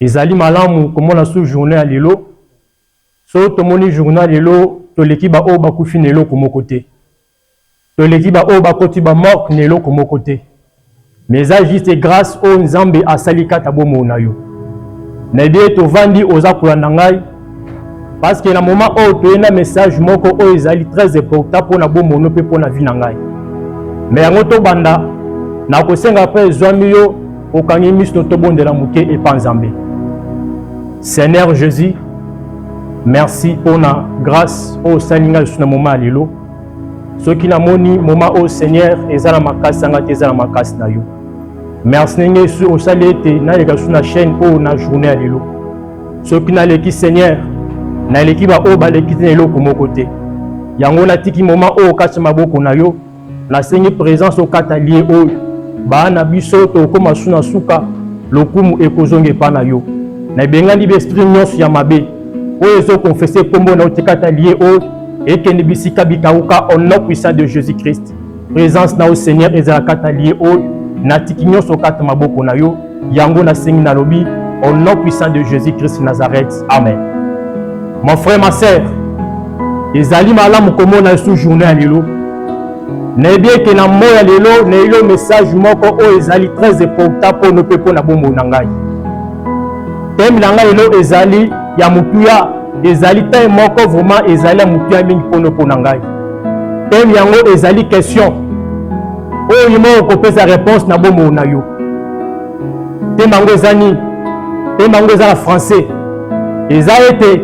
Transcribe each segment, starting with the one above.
Ezali malamu komona sous journee ya lelo. Soki tomoni journee ya lelo, toleki ba oyo bakufi na eloko moko te. Toleki ba oyo bakoti ba morgue na eloko moko te. Mais eza juste grace oyo Nzambe asali kata bomoi na yo. Nayebi ete ovandi oza kolanda ngai. parce que na moment oyo toye na message moko oyo ezali très important mpo na bomono mpe mpo na vie na ngai me yango tobanda nakosenga mpe ezwami yo okangi miso tobondela moke epa nzambe seigneur jésus merci mpo na grâce oyo osali ngai lisusu na moma ya lelo soki namoni moma oyo seigneur eza na makasi yanga te eza na makasi na yo merci ndenge osali ete naleka lisusu na chaîne oyo na journée ya lelo soki naleki seigneur naleki baoyo baleki te na eloko moko te yango natiki moma oyo kati maboko na yo nasengi presence okata lie oyo baa na biso tokokoma su na suka lokumu ekozonga epa na yo na ebengani baesprit nyonso ya mabe oyo ezokonfese nkombo na yo tikata lie oyo ekende bisika bikauka au nom puissant de jésus christ Presence na yo Seigneur ezala kata lieu oyo natiki nyonso kata maboko na yo yango nasengi nalobi au nom puissant de Jésus Christ Nazareth amen mon frère ma sœur ezali malamu komona esu journée ya lelo nayebi ete na moi ya lelo nayebi yo message moko oyo ezali très important mpo no mpe mpo na bomoi na ngai teme na ngai lelo ezali ya motuya ezali teme moko vraiment ezali ya motuya mingi mpo no mpo na ngai Thème yango ezali question oyo yuma okopesa réponse na bomoi na yo. Thème yango eza nini? Thème yango eza na français. Eza ete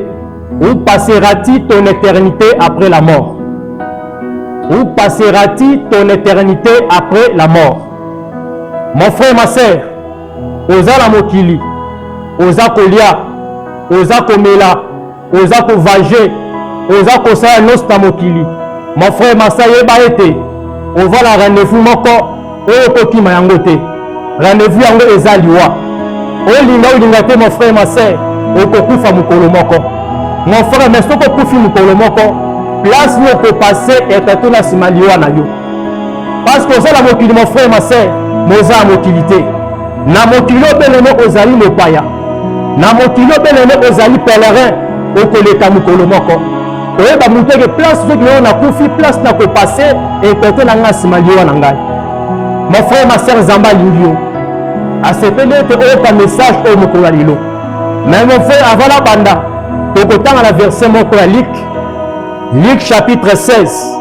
où passeras-tu ton éternité après la mort? Où passeras-tu ton éternité après la mort? Mon frère, ma sœur, oza na mokili, oza kolia, oza komela, oza kovage oza kosala nyonso na mokili mon frère masa yeba ete oza na rendez-vous moko oyo okokima yango te rendez-vous yango eza liwa olinga olinga te mon frère ma sœur okokufa mokolo moko mon frère mais soki okufi mokolo moko place yo okopase etatuna nsima liwa na yo parce que oza na mokili mon frère ma sœur mais oza na mokili te na mokili obeleme ozali mopaya na mokili obeleme ozali pèlerin okoleka mokolo moko oyeba moto eke place soki nayo nakufi place na kopase ekete na ngai nsima liwa na ngai mon frère ma sœur nzambe alingi yo asepeli ete oyoka message oyo mokolo ya lelo mais mon frère avant na banda tokotanga na verset moko ya luk luk chapitre 16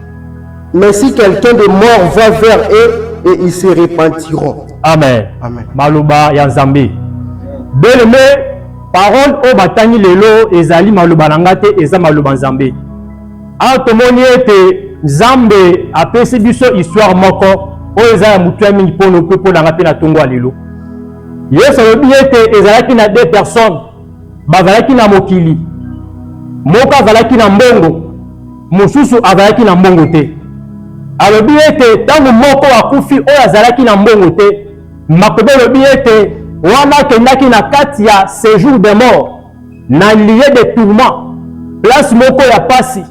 Mais si quelqu'un de mort va vers eux et ils se repentiront. Amen. Amen. Maloba ya Nzambe. Bien-aimé, parole oyo batangi lelo ezali maloba na ngai te, eza maloba Nzambe. Awa tomoni ete Nzambe apesi biso histoire moko oyo eza ya motuya mingi mpo mpo na ngai mpe na ntongo ya lelo. Yesu alobi ete ezalaki na deux personnes bazalaki na mokili, moko azalaki na mbongo, mosusu azalaki na mbongo te. Alobi ete ntango moko akufi oyo azalaki na mbongo te, makobe elobi ete wana akendaki na kati ya sejour de mort na lieu de tourment, place moko ya pasi,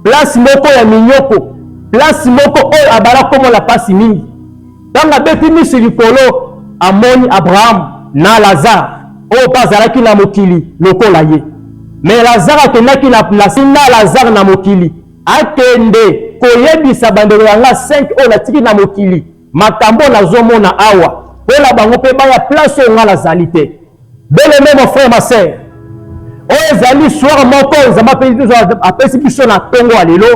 place moko ya minyoko, place moko oyo abala komona pasi mingi. Ntango abeti miso likolo, amoni Abraham na Lazare oyo mpe azalaki na mokili lokola ye. Me Lazare akendaki na plasi na Lazare na mokili, akende koyebisa bandeko ya nga 5 oyo natiki na mokili makambo oyo nazomona awa, mpo na bango mpe baya plasi oyo nga nazali te. Beleme mon frère ma sœur oyo ezali soir moko nzambe apesi biso na ntongo ya lelo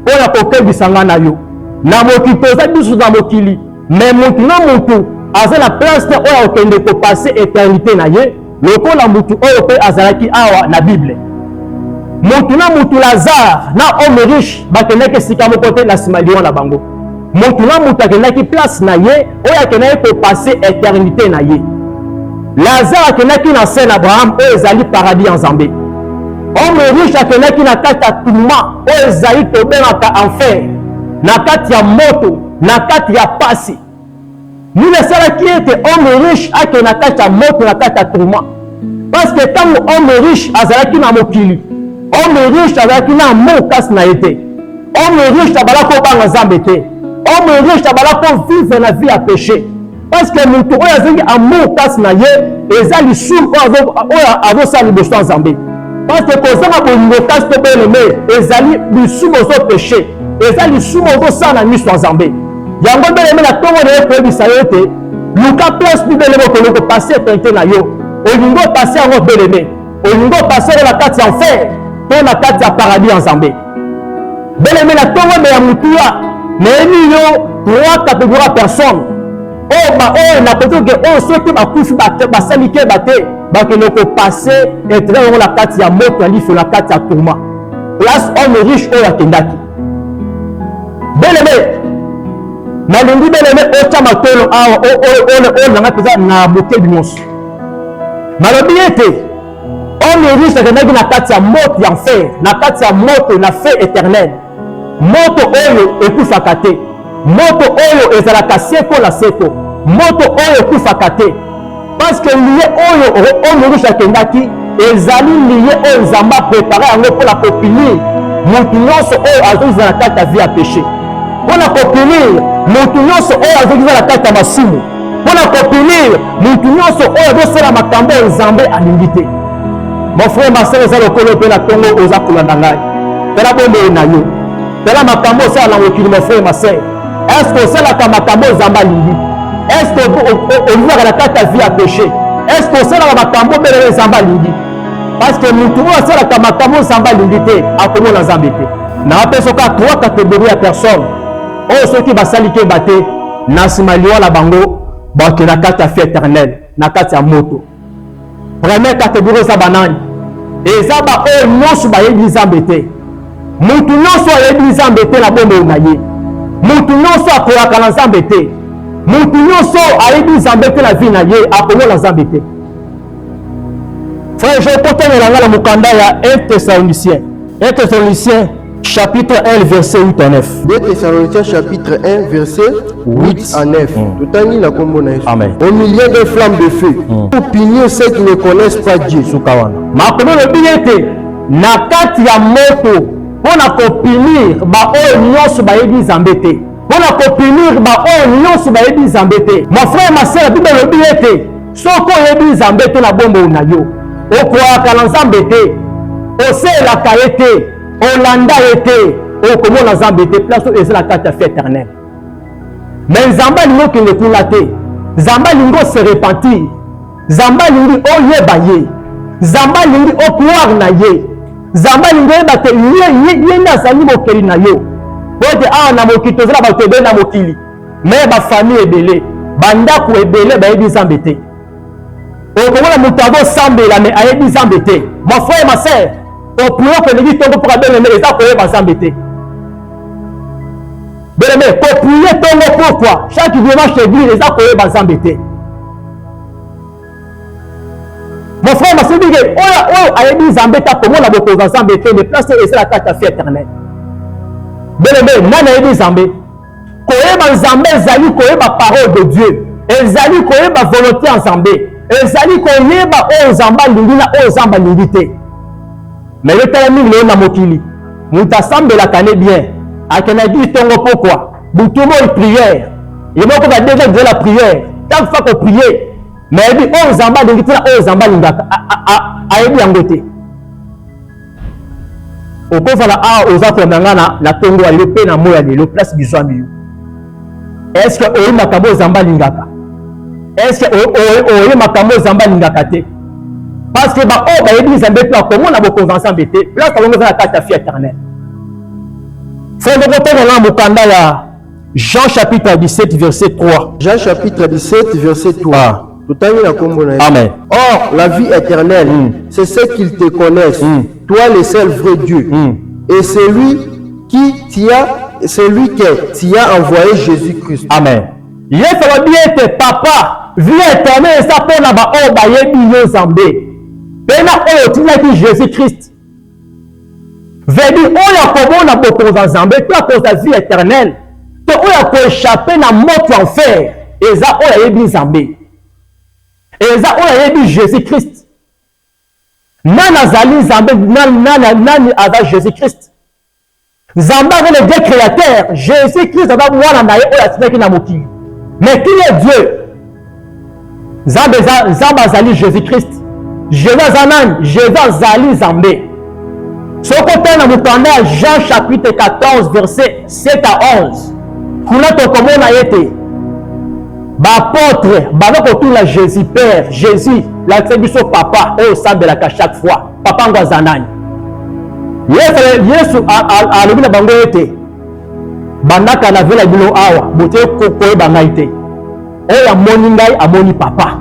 mpo na kokebisa ngai na yo na mokili toza biso na mokili me motu na motu aza na place te oyo akokende kopase eternité na ye lokola motu oyo mpe azalaki awa na bible motu na motu lazare na homme riche bakendaki esika moko te na nsima liwa na bango motu na motu akendaki place na ye oyo akendaki kopase eternite na ye lazare akendaki na se na abraham oyo ezali paradis ya nzambe homme riche akendaki na kati ya tuma oyo ezali tobengaka enfer na kati ya moto na kati ya pasi nini esalaki ete homme riche akende na kati ya moto na kati ya tuma parce que ntango homme riche azalaki na mokili homme riche azalaki na amour kasi na ye te homme riche abala kobanga nzambe te homme riche abala kovivre na vie ya péché parce que moto oyo azangi amour kasi na ye eza lisumu oyo azosala liboso ya nzambe parce que kozanga bolingo kasi to beleme ezali lisumu ozo péché eza lisumu ozosala na miso ya nzambe yango beleme na ntongo na ye koyebisa yo ete luka place bibele bokolo kopase tente na yo olingi opase yango beleme olingi opase yango na kati ya enfer to na kati ya paradis ya nzambe beleme na tongombe ya motuya nayebi yo trois catégorie ya personne oyo oh, baoyo oh, nakoki oke oyo oh, soki bakufi basali keba te bakende kopase etre yango na kati ya moto ya liso na kati ya tourma place homme riche oyo akendaki belebe nalingi belebe otya matolo awa oyo nanga mpenza na bokebi nyonso nalobi ete omeris akendaki na kati ya moto ya nfer na kati ya moto na fe éternel moto oyo ekufaka te moto oyo ezalaka seko na seko, moto oyo ekufaka te, parceke liye oyo oyo morusu akendaki ezali liye oyo nzambe aprepare yango mpo na kopinire motu nyonso oyo azozala na kati ya vi ya peshe mpo na kopinire motu nyonso oyo azozala na kati ya masumu mpo na kopinire motu nyonso oyo azosala makambo ya nzambe alingi te mon frère masere eza lokolo mpe na ntongo oza kolanda ngai tala bomoi na yo tala makambo osala na mokili ma frere ma sœur estce osalaka makambo oyo nzambe alingi estce olingaka na kati ya vie ya péché estce osalaka makambo obelele nzambe alingi parce que motu oyo asalaka makambo nzambe alingi te akomona nzambe te napesa kaka trois catégorie ya personne oyo soki basali keba te na nsima liwa na bango bakenda kati ya vie éternel na kati ya moto Première catégorie eza banani? Eza baoyo nyonso bayebi Nzambe te. Moto nyonso ayebi Nzambe te na bomoi na ye. Moto nyonso akoyaka na Nzambe te. Moto nyonso ayebi Nzambe te na vie na ye, akomona Nzambe te. Frère, je kotonela nga na mokanda ya 1 Thessaloniciens. 1 Thessaloniciens chapitre 1 verset 8 à 9 2 thessaloniciens chapitre 1 verset 8 à 9 mm. totangi na kombo na yesu au milieu des flammes de feu mm. pour punir ceux qui ne connaissent pas dieu suka wana makomi olobi ete na kati ya moto mpo na kopinir baoyo nyonso bayebi nzambe te mpo na kopinir baoyo nyonso bayebi nzambe te mon frère ma sœur bible elobi ete soki oyebi nzambe te na bomoi na yo okwaka na nzambe te oselaka ye te olanda ye te okomona nzambe te place oyo eza na kati ya fi éternel me nzambe alingi okende kuna te nzambe alingi ose repentir nzambe alingi oyeba ye nzambe alingi okware na ye nzambe alingi oyeba te ye nde azali mokeli na yo po ete awa na mokili tozala bato ebele na mokili me bafamille ebele bandako ebele bayebi nzambe te okomona moto azosambela me ayebi nzambe te mon frère ma sœur kopuloka elingi ntongo mpo kabeleme eza koyeba nzambe te beleme kopuye ntongo pourkui chaque dimanche eglise eza koyeba nzambe te mon frère masibike oyo oyo ayebi nzambe te akomona bokonza nzambe te me place oyo ezala kati ya fi éternel beleme nani ayebi nzambe koyeba nzambe ezali koyeba parole de dieu ezali koyeba volonté ya nzambe ezali koyeba oyo nzambe alingi na oyo nzambe alingi te me yo tala mingi lelo na mokili moto asambelaka ne bien akendaki ntongo pokwa butu moi priere ye moko badenge kozela priere ntango fa koprie me ayebi oyo nzambe alingi te na oyo nzambe alingaka ayebi yango te okozala awa oza kolanda ngai na, na tongo ya lelo mpe na moi ya lelo place bizwami yo eske oyebi makambo oyo zamba alingaka eske oyebi makambo oyo zamba alingaka te parce que baoyo bayebi nzambe mpe bakomona bokonzi ya nzambe te place bango eza na kati ya fi éternel fondokotanga na mokanda ya jean chapitre 17 verset 3 jean chapitre 17 verset 3 totangi na kombo na amen or la vie éternelle mm. c'est ce qu'ils te connaissent mm. toi le seul vrai dieu mm. et celui qui t'y a celui qui t'y a envoyé jésus christ amen yesu alobi ete papa vie éternelle eza mpo na baoyo bayebi yo nzambe mpe na oyo otindaki jésus christ Veut dire oyo akomona bokonzi ya Nzambe to akozwa vie eternelle to oyo akoechappe na moto ya enfer eza oyo ayebi Nzambe, eza oyo ayebi Jesus Christ. Nani azali Nzambe? Nani, nani, nani aza Jesus Christ? Nzambe aza le Dieu createur, Jesus Christ aza mwana na ye oyo atindaki na mokili. Mais qui est Dieu? Nzambe eza Nzambe azali Jesus Christ. Jésus aza nani? Jésus azali Nzambe. Soki otali na mokanda ya Jean chapitre 14 verset 7 à 11, kuna tokomona ye te baapôtre baza kotuna Jésus Père, Jésus lakisa biso papa oyo osambelaka chaque fois Papa yango aza nani? Yesu alobi na bango ete bandaka na vela bino awa bote koyeba ngai te oyo amoni ngai amoni papa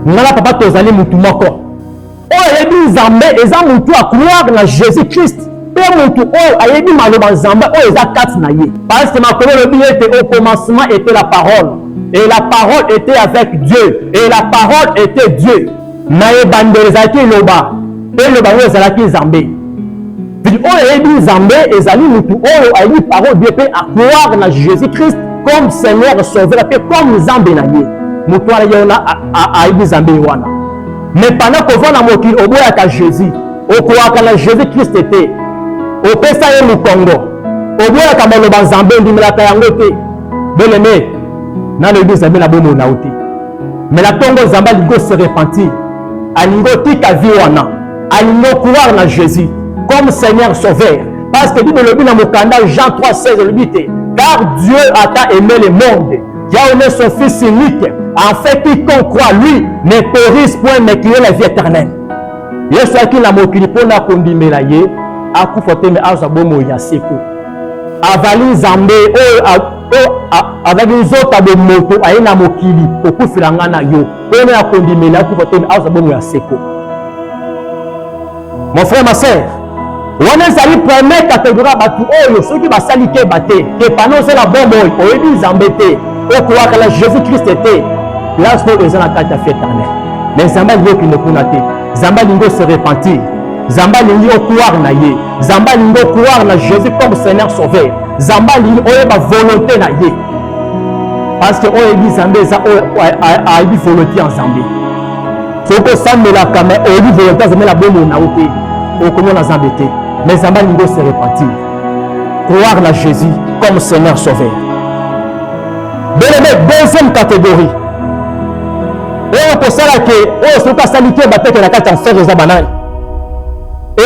ngai na papa tozali motu moko oyo ayebi nzambe eza motu ya croire na jésus christ mpe motu oyo ayebi maloba nzambe oyo eza kati na ye parceke makolo elobi ete au commencement ete la parole et la parole ete avec dieu et la parole ete dieu Na ebandeli ezalaki eloba, mpe eloba yango ezalaki Nzambe. Vidi oyo ayebi Nzambe ezali motu oyo ayebi parole Dieu mpe akware na Jésus-Christ comme Seigneur sauveur mpe comme Nzambe na ye. Motu wana ye wana ayebi Nzambe ye wana. Mais pendant kovanda na mokili oboyaka Jésus, okoaka na Jésus-Christ te, opesa ye mokongo, oboyaka maloba Nzambe, ondimelaka yango te. Bien-aime, nalobi Nzambe na bomoi na yo te. mais na tongo zambe alingi ose repentir alingi otika vie wana alingi okroire na jésus comme seigneur sauveur parce que bible elobi na mokanda jean 3 16 elobi te car dieu ata aime le monde qui a donné son fils unique afin quiconque croit lui ne périsse point mais qu'il ait la vie éternelle yesu ayaki na mokili mpo na kondimela ye akufa te me azwa bomoi ya seko avali nzambe oyo mpo azalaki nzoto ya bomoto aye na mokili kokufela ngai na yo mpo ena ya kondimela akufa te azwa bongo ya seko mon frère ma sœur wana ezali premier kategori ya bato oyo soki basali keba te kepana ozala bomoi oyebi nzambe te okolaka na jésus krist te place oyo eza na kati ya fetane mais nzambe alingi okende kuna te nzambe alingi ose repentir nzambe alingi okoire na ye nzambe alingi okoire na jésus comme seigneur sauveur Zamba alingi oyeba volonté na ye parce que oyebi Nzambe eza oyo ayebi volonté ya Nzambe. Soki osambelaka me oyebi volonté ya Nzambe na bomoi na yo te, okomona Nzambe te. Mais Nzambe alingi ose repentir, croire na Jésus comme Seigneur Sauveur. Belebe deuxième catégorie oyo kosala ke oyo soki asali te bateke na kati ya enfer eza banani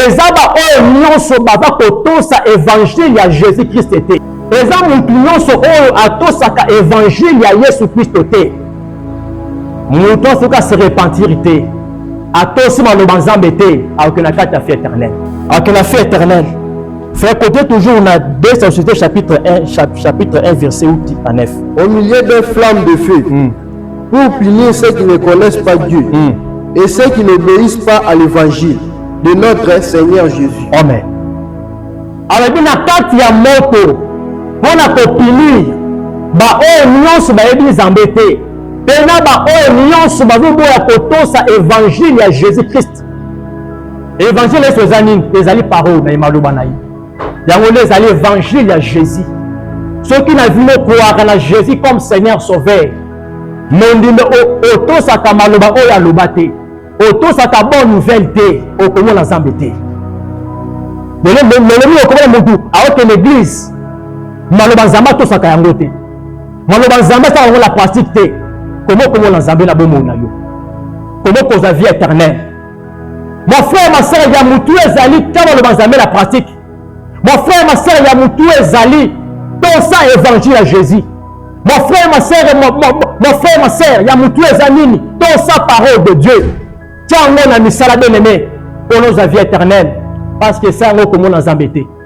eza baoyo nyonso baza kotosa evangile ya jesus kriste te eza motu nyonso oyo atosaka evangile ya yesu kristo te moto asoki ase repentiri te atosi maloba nzambe te akoke na kati ya fie éternel akoke na fie éternel Frère, côté toujours, on a 2 sociétés, chapitre 1, chapitre 1, verset 8 à 9. Au milieu des flammes de feu, mm. Pour punir ceux qui ne connaissent pas Dieu mm. et ceux qui n'obéissent pas à l'évangile de notre Seigneur Jésus. Amen. alobi na kati ya moto mpo na kopinir baoyo nyonso bayebi nzambe te mpe na baoyo nyonso bazoboya kotosa évangile ya jésus christ évangile yesu eza nini ezali parole na ye maloba na ye yango nde ezali evangile ya jésus soki na bino okoaka na jésus comme seigneur sauveur mondimbe otosaka maloba oyo aloba te otosaka bonne nouvelle te okomona nzambe te lolemi okomona motu aokende église maloba nzambe atosaka yango te maloba nzambe asaka yango na pratique te koma okomona nzambe na bomoi na yo koma okozwa vie éternelle Mon frère ma sœur ya mutu ezali kama loba nzambe na pratique. Mon frère ma sœur ya mutu ezali tosa évangile ya Jésus. Mon frère ma sœur mon, mon, mon frère ma sœur ya mutu eza nini? Tosa parole de Dieu. Tiango na misala bien aimé. Poloza vie éternelle parce que ça ngo komona nzambe te.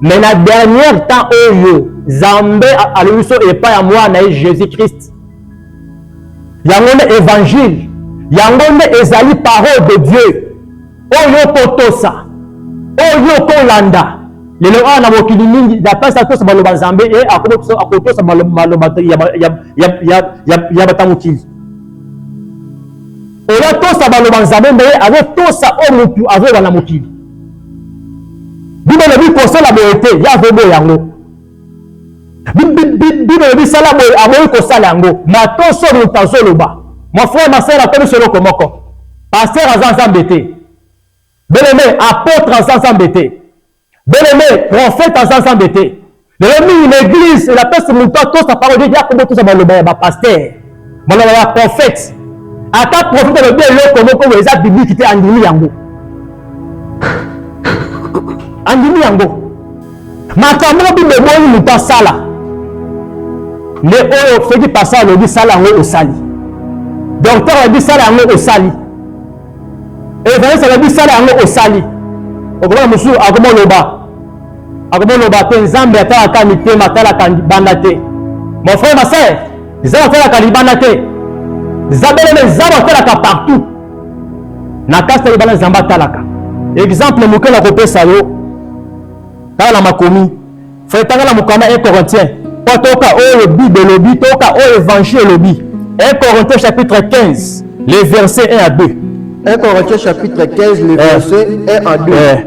mais na dernière temps oyo zambe alobi biso epai ya mwana na ye jésus christ yango nde évangile yango nde ezali parole de dieu oyo okotosa oyo okolanda lelo awa na mokili mingi napesi atosa maloba nzambe e akotosa maloba ya bata mokili oyo atosa maloba nzambe nde ye azotosa oyo motu azoyoba na mokili bino lobi kosala boye te ye azoboya yango bino lobi sala boye aboyi kosala yango matoso moto azoloba mon frère ma sœur akomisi eloko moko paster aza nzambe te beleme apôtre aza nzambe te beleme prophète aza nzambe te lelo mingi na eglise elapesi moto atosa parole ete akobo tosa maloba ya bapaster maloba ya prophète ata prophète alobi eloko moko oyo eza biblike te andimi yango andimi yango makambo oyo bible ebongi moto asala nde oyo soki pasa alobi sala yango osali dokter alobi sala yango osali evangeliste alobi sala yango osali okomona mosusu akoma oloba akomoloba te nzambe atalaka mitema atalaka libanda te mon frère ma sœur nzambe atalaka libanda te zabeleme nzambe atalaka partout na kasi ta libanda nzambe atalaka exemple moke na kopesa yo tala na makomi frère tanga na mokanda 1 corinthien mpo toyoka oyo bible elobi toyoka oyo évangile elobi 1 corinthien chapitre 15 le verset 1 à 2 1 corinthien chapitre 15 le eh. verset 1 à 2 eh.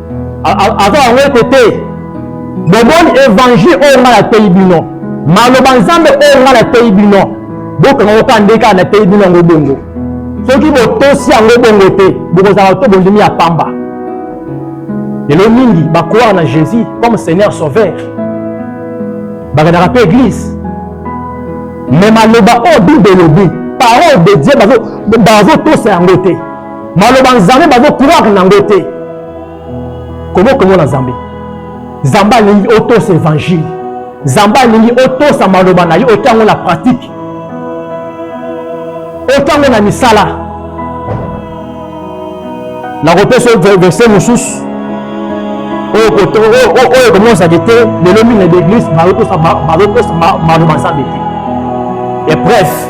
aza yango ete te bomoni evangile oyo ngai nateyi bino maloba nzambe oyo ngai nateyi bino bokanga yoka nde kaka nateyi bino yango bongo soki botosi yango bongo te bokozala to bondimi ya pamba lelo mingi bakwaka na jésus comme seigneur sauveur bakendaka mpe église me maloba oyo bible elobi parole de dieu bazotosa yango te maloba nzambe bazokroire nango te komi okomona nzambe nzambe alingi otosa evangile nzambe alingi otosa maloba na ye otya yango na pratike otya yango na misala nakopesa verse mosusu oyo ekomonisaki te lelo mingi na baeglise bazotosa maloba nzambe te epreuve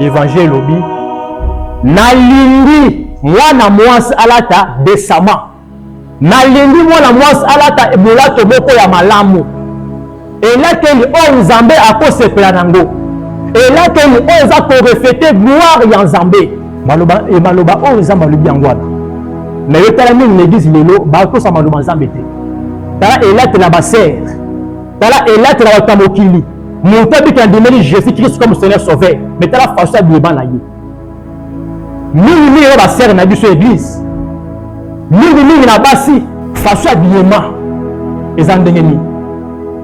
Evangile elobi nalingi mwana mwasi alata desama, nalingi mwana mwasi alata molato moko ya malamu, elateli oyo Nzambe akosepela nango, elateli oyo eza korefete gloire ya Nzambe. Maloba e maloba oyo Nzambe alobi yango wana, na yo tala mingi na eglise lelo batosa maloba Nzambe te. Tala elatela basere, tala elatela bato ya mokili moto abiki andimeli jésus christ comme seigneur sauveur me tala façon ya bileba na ye mingimingi na basere na biso église mingimingi na basi façon ya bilema eza ndenge nini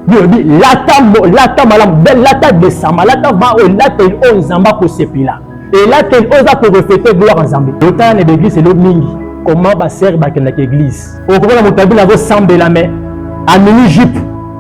biolobi lata, lata malamu lata desama lata va oyo elateli oyo oh, nzambe akosepela elateli oyo oh, eza korefete gloire nzambe otala na baeglise elo mingi koma basere bakendaka eglise okomona moto abina akosambela me amini jupe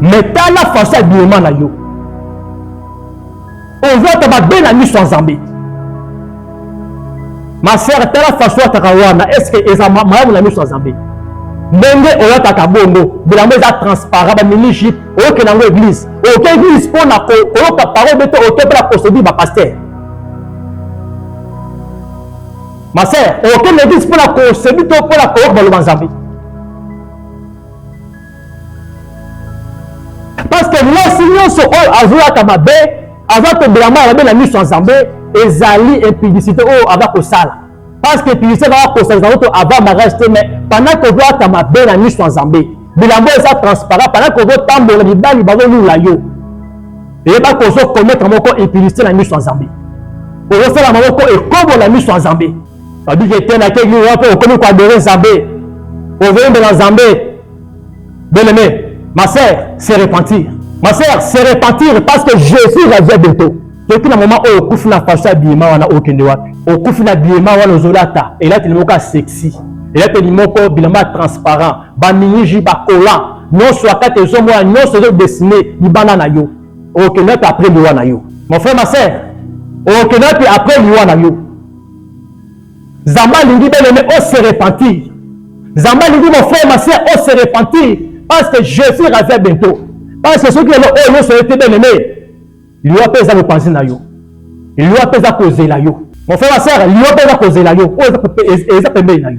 me tala faso ya bilema na yo ozwaka mabe na miso ya nzambe ma sœur tala faso ataka wana estce eza malamu na miso ya nzambe ndenge oyataka bongo bilango eza transparent bamini jipe oyokela yango eglise oyoka eglise mpo na koyoka parole bete oke mpe na procédure bapaster ma sœur okende eglise mpo na kosedi to mpo na koyoka baloba nzambe parce que mwasi nyonso oyo azoyaka mabe aza koblama ya mabe na miso ya nzambe ezali impudicité oyo aza kosala parce que impudicité ezaka kosalisa moto avant mariage te mais pendant kozoyaka mabe na miso ya nzambe bilambo eza transparent pendant kozotambola mibali bazolula yo eyeba kozokometre moko impudicité na miso ya nzambe ozosala maboko ekobo na miso ya nzambe Babi ke te na ke ni wapo okomi ko adore Nzambe. Ovembe na Nzambe. Bien aimé, ma sœur, se repentir. Ma sœur, se repentir parce que Jésus revient bientôt. Toki na moment oyo okufi na fashion ya biyema wana okende wapi? Okufi na biyema wana ozolata elateli moko ya sexy, elateli moko bilamba ya transparent, baminiji bakola nyonso ya kati ezomona nyonso ezodesine libanda na yo. Okende wapi après liwa na yo? Mon frère, ma sœur, okende wapi après liwa na yo? Nzambe alingi bel et bien o se repentir. Nzambe alingi mon frère ma sœur o se repentir parce que Jésus revient bientôt. Parce que soki lelo oyo nyonso ete bel et bien liwa mpe eza mopanzi na yo. Liwa mpe eza kozela yo. Mon frère ma sœur, liwa mpe eza kozela yo. Oyo eza pembeni na yo.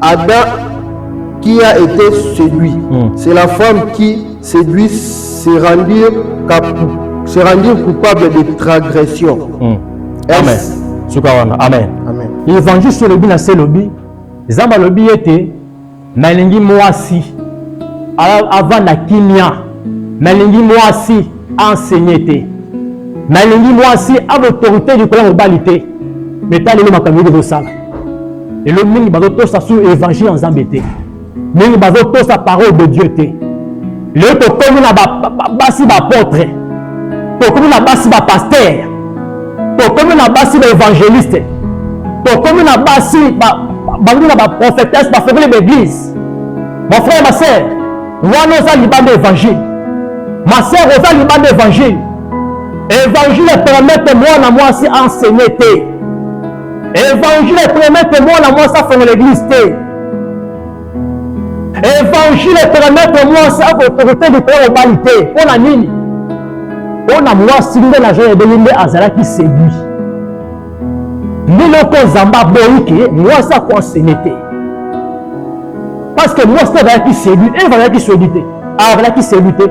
Adam qui a été séduit, mm. c'est la femme qui séduit se rendir, se rendir coupable de transgression. Mm. Amen. Amen. Amen. Amen. L'évangile sur le bin c'est le bin. Zamba le bin était nalingi mwasi avant na kimia nalingi mwasi enseigner te nalingi mwasi a l'autorité du kola mobali te mais talelo makambo yoko bosala lelo mingi bazotosa sur évangile ya nzambe te mingi bazotosa parole de dieu te lelo tokomi na basi baapotre tokomi na basi bapaster tokomi na basi baevangeliste tokomi na basi bangi na baprofetese bafongoli baeglise mon frère ma sœur wana oza libanda évangile ma sœur oza libanda évangile évangile epermete mwana mwasi enseigne te Evangile epermete mwana mwasi afongola eglise te. Evangile epermete mwasi akotokote likolo ya mobali te. Mpo na nini? Mpo na mwasi nde na jean ebeli nde azalaki seduit. Liloko Nzambe aboyi ke mwasi akonsene te. Parce que mwasi azalaki seduit, Eva azalaki seduit te. Ah, azalaki seduit te.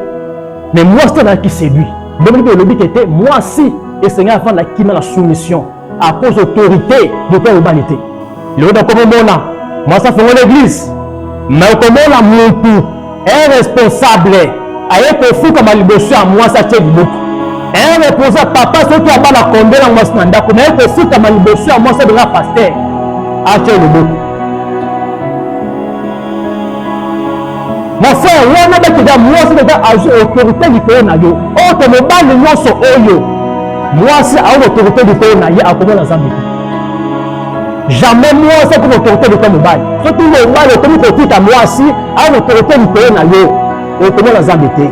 Mais mwasi azalaki seduit. Bongo elobi ke te mwasi esengeli afanda kima na soumission. à cause autorité de ton humanité lelo bakomomona mwasi afongola église me okomona mutu un responsable aye kofukama liboso ya mwasi atie libuku un reposa papa soki abala kombe na mwasi na ndako naye kofukama liboso ya mwasi abenga paster atie libuku mafrere wana bakeda mwasi kaka azwi autorité likolo na yo oto mobali nyonso oyo mwasi aoki autorité likolo na ye akomona zambi te jamais mwasi akomi autorité likolo mobali soki mobali okomi kotika mwasi aoki autorité likolo na yo okomona zambi te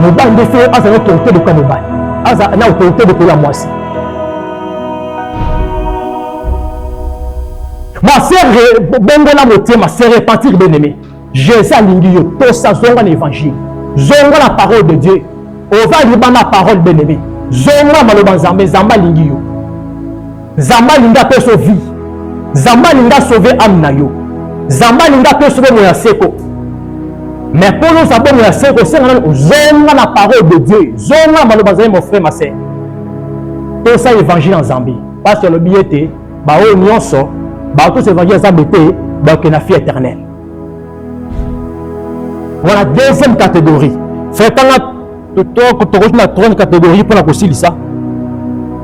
mobali nde fe aza na autorité likolo mobali aza na autorité likolo ya mwasi Ma sœur, bongola motema, se repentir bien aimé. Jésus alingi yo, tosa zonga na évangile. Zonga la parole de Dieu. Ova liba na parole bien aimé. Zonga maloba Nzambe, Nzambe alingi yo. Nzambe alingi apesa vie. Nzambe alingi asauve âme na yo. Nzambe alingi apesa bomo ya seko. Mais mpo oza bomo ya seko, osenga nani ozonga na parole de Dieu. Zonga maloba Nzambe mon frère, ma sœur. Tosa évangile ya Nzambe. Pasi alobi ye te baoyo nyonso bakotosa evangile ya zambe te baoke na fie éternel wana deuxième catégorie fretanga tokoki na troisième catégorie mpo na kosilisa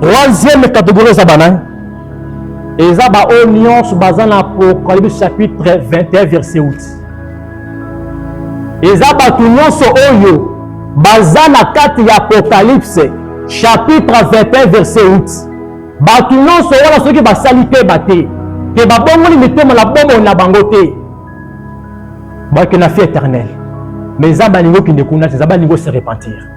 troisième catégorie eza banani eza baoyo nyonso baza na apocalypse chapitre 21 verset 8 eza bato nyonso oyo baza na kati ya apocalypse chapitre 21 verset 8 bato nyonso wana soki basali keba te ke babongoli mitema na bomoi na bango te bakenda fi éternel mais nzambe alingi okende kuna te nzambe alingi ose repentir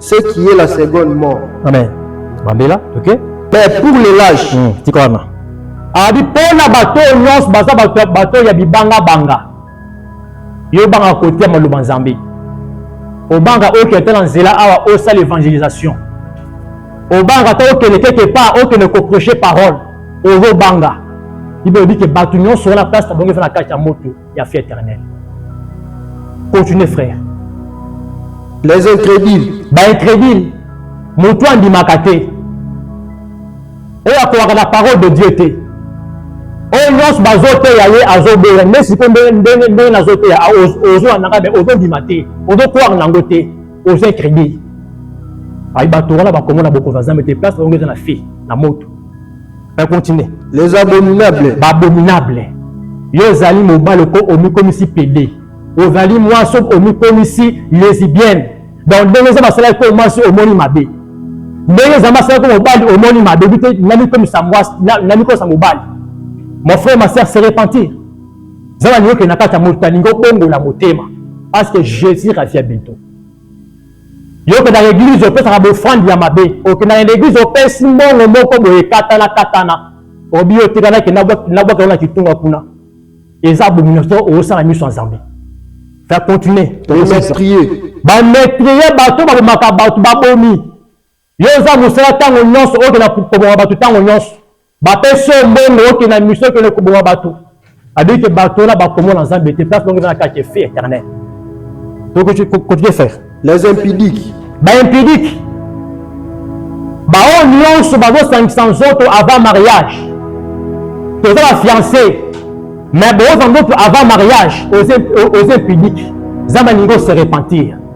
ce qui est la seconde mort. Amen. Bambela, ok. Mais pour les lâches. Hmm, tikwana. Abi pona bato nyonso baza bato bato ya bibanga banga. Yo banga kotia maloba Nzambe. Obanga okende okay, na nzela awa osala evangelisation. Obanga to okende quelque part okende ko prêcher parole. Ozo banga. Bible dit que bato nyonso wana place na bango eza na kati ya moto. ya vie éternelle. Continuez frère. Les incrédules. Ba incrédules. Moto andimaka te. Oyo akowaka na parole de Dieu te. Oyo nyonso bazoteya ye azoboya nde sikoyo ndenge ndenge ndenge nazoteya ozwa nanga me ozondima te ozokwaka nango te oza incrédule ayi bato wana bakomona bokonzi ya nzambe te place bango eza na fille na moto na continue les abominables babominable yo ozali mobali oko omikomisi pede ozali mwasi omikomisi lesibienne donc ndenge eza basalaki ko mwasi omoni mabe ndenge eza basalaki ko mobali omoni mabe bite namikomisa mwasi namikomisa mobali mon frère ma sœur se repentir zala liyoke na kati ya moto alingi obongola motema parce que jésus revient bientôt Yo okendaka eglise opesaka bofrande ya mabe, okendaka na eglise opesi mbongo moko boye katana katana, obi yo tika nake nabwaka na kitunga kuna, eza abomination osala miso ya Nzambe. Fa continuer. Ba metrier bato babomaka bato babomi Yo oza musala tango nyonso oke na koboma bato tango nyonso bapesi yo mbongo oke na miso oke na koboma bato abiki ke bato wana bakomona nzambe te place bango eza na kati ya feu éternel tokoki kotie faire les impidiques ba impidiques baoyo nyonso bazosangisa nzoto avant mariage toza bafiance mais booza nzoto avant mariage oza impidique nzambe alingi ose repentir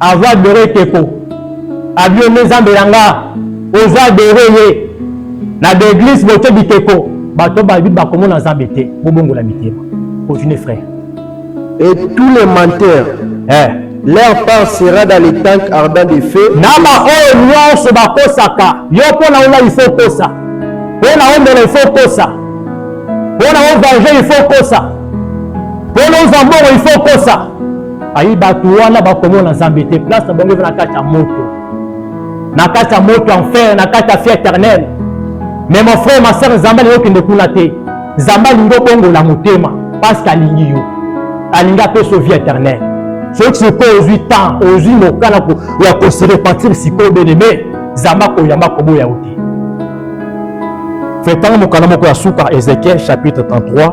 Avo adore ekeko abio nde nzambe na nga ozo adore ye na baeglise botie bikeko bato bayebi bakomona nzambe te bobongola mitema continue frère et tous les menteurs eh. leur part sera dans les tanks ardent de feu na baoyo nyonso bakosaka yo mpo na ona ifo kosa mpo na omela ifo kosa mpo na ovenge ifo kosa mpo na ozwa mbongo ifo kosa ayi bato wana bakomona nzambe te place na bango eza na kati ya moto na kati ya moto enfer na kati ya fie éternel mais mon frère ma sœur nzambe alingi okende kuna te nzambe alingi obongola motema parce que alingi yo alingi apesa vie éternel soki sikoyo ozwi temps ozwi mokana ya kose repentir sikoyo beneme nzambe akoyamba koboya yo te fetanga mokanda moko ya suka ezekiel chapitre 33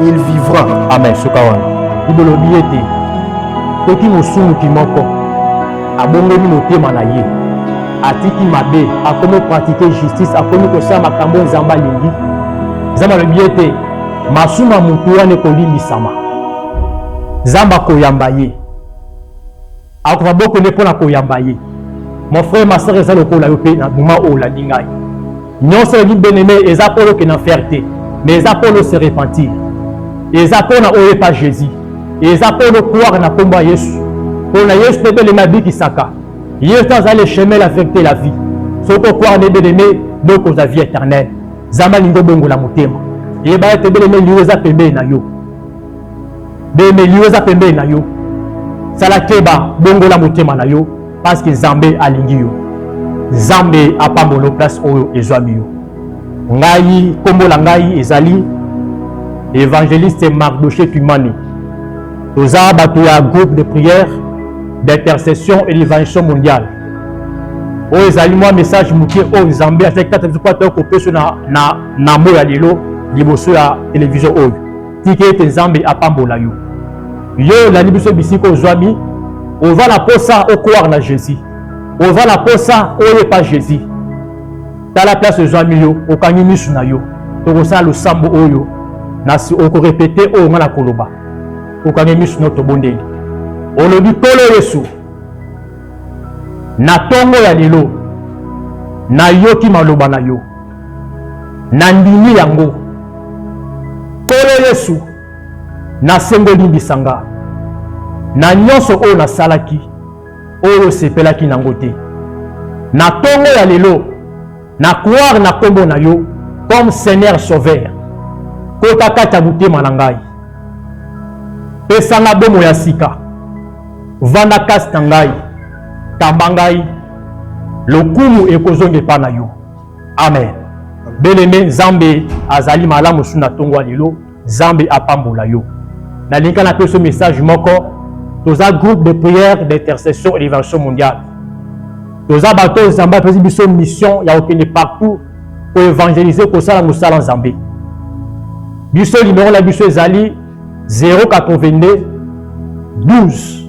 il vivra amen suka wana libolobi ete soki mosumuki moko abongoli motema na ye atiki mabe akomi pratike justice akomi kosala makambo nzambe alingi nzambe alobi ete masumu ya motu wana ekolimbisama nzambe akoyamba ye akoka boko nde mpo na koyamba ye mon frère ma sœur eza lokola yo mpe na moma oyo olandi ngai nyonso olingi beneme eza mpo oke na fer te mais eza mpo no se repentir eza mpo na oyo epa jésus eza mpo no croire na nkombo ya yesu mpo na yesu nde beleme abikisaka yesu nde azali le chemin la vérité la vie soki okware nde beleme nde okozwa vie éternelle nzambe alingi obongola motema yeba ete beleme liwa eza pembeni na yo bemeli yo eza pembeni na yo sala keba bongola motema na yo parceke nzambe alingi yo nzambe apambolo place oyo ezwami yo ngai nkombo na ngai ezali evangeliste mardoche tumani toza bato ya groupe de prière d'intercession et d'évangelation mondiale oyo ezali mwa message moke oyo nzambe azali kati biso mpo ata kopesa na, na, na moya lelo liboso ya televizio oyo tika ete nzambe apambola yo yo olandi biso bisika ozwami oza na posa okoire na jésus oza na posa oyepa jésus tala place ozwami yo okangi misu na yo tokosala losambo oyo nasi okorepete oyo ngai nakoloba okangi misu na yo tobondeli olobi nkolo yesu na ntongo ya lelo nayoki maloba na yo nandimi yango nkolo yesu nasengi olimbisa nga na nyonso oyo nasalaki oyo osepelaki nango te na ntongo ya lelo na croire na nkombo na yo comme seigneur sauveur kota kati ya motema na ngai pesa nga bomo ya sika vanda kasi na ngai kamba ngai lokumu ekozonga epai na yo amen beleme nzambe azali malamu su na ntongo ya lelo nzambe apambola yo nalingi na peso message moko toza groupe de prière d'intercession et d'évention mondiale toza bato oyo nzambe apesi biso mission ya kokende partout koevangelize kosala mosala nzambe biso limero na biso ezali 082 12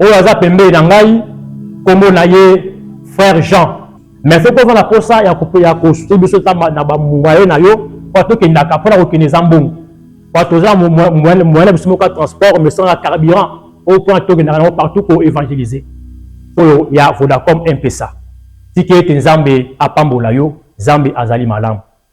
oyo aza pembeni na ngai nkombo na ye frère jean mais soki oza na mposa ya kosute biso ta na bamwaye na yo mpo tokendaka mpo na kokende eza mbongo mpo toza moyen na biso moko ya transport mais sanga carburant oyo mpo na tokendaka nango partout ko évangélise oyo ya vodacom mpesa tika ete nzambe apambola yo nzambe azali malamu